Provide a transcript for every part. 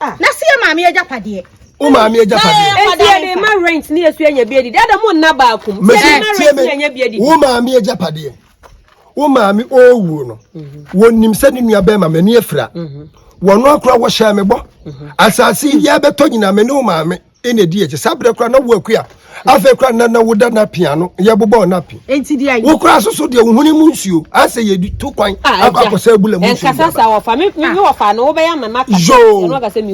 Ah. Na si yɛ maame agyapadeɛ. Wo maame agyapadeɛ. Eti yɛ de ma rent ne esu anya bi adi. Dada mo nna baakum. Yɛ de ma rent ne anya bi adi. Wo maame agyapadeɛ. Wo maame owuo no. Mhm. Wɔnim sɛ ne nua bɛrima m'ani afira. Mhm. Wɔn akora wɔhyɛ me bɔ. Mhm. Asase yi yɛbɛtɔ nyinaa me ne wo maame. ɛna ɛdi akyi saa berɛ koraa na wo akua afei koraa na na woda no apia ano yɛbobɔɔ no api wo koraa so so deɛ wo hone mu nsuo asɛ yɛdi to kwan ah, akɔ akɔsɛ abula mu nsuo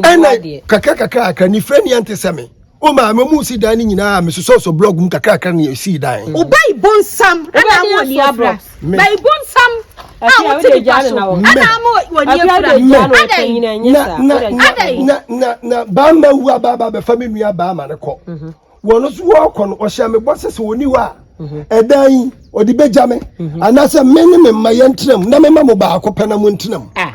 ɛna kakra kakra kakra ne frɛ ne ɛnte sɛ me o maa mi mu si dan ne nyinaa mi soso so blog mu kakra kakra ne esi dan. o ba ibo nsam ɛna amu ni abira. na ibu nsam a wote nipa so ɛna ama wɔn yɛ kura adɛn adɛn. na na na baama wu a baaba bɛfa mi nua baama ne kɔ mhm. wɔn nso wɔkɔ no ɔhyɛ mi bɔ sɛ sɛ wɔn hɔ a mhm. ɛdan yi ɔde bɛgya me mhm. anaasɛ me ne me mma yɛn tenam na me ma mo baako pɛ na mo ntenam. Ah.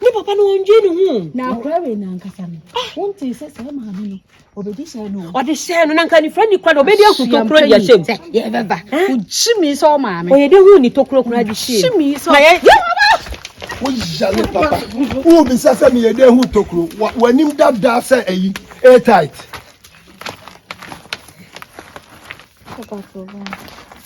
Ne papa no ɔndwe ne ho. Na akora wei nankasa no. Ah. Wontee sɛ saa maame no ɔbɛdi hyɛ no. Ɔde hyɛ no na nka nifra ni kora na ɔbɛdi ahu tokuro di ahyɛ mu. Yɛbɛba. Wogye mi sɛ ɔmaame. Ɔyɛ de hu ni tokuro kora di hyɛ. Wogye mi sɛ. Na yɛ. Woyɛ ne papa. Wobisa sɛ meyɛ de hu tokuro. W'anim dada sɛ ayi. Airtight. Papa so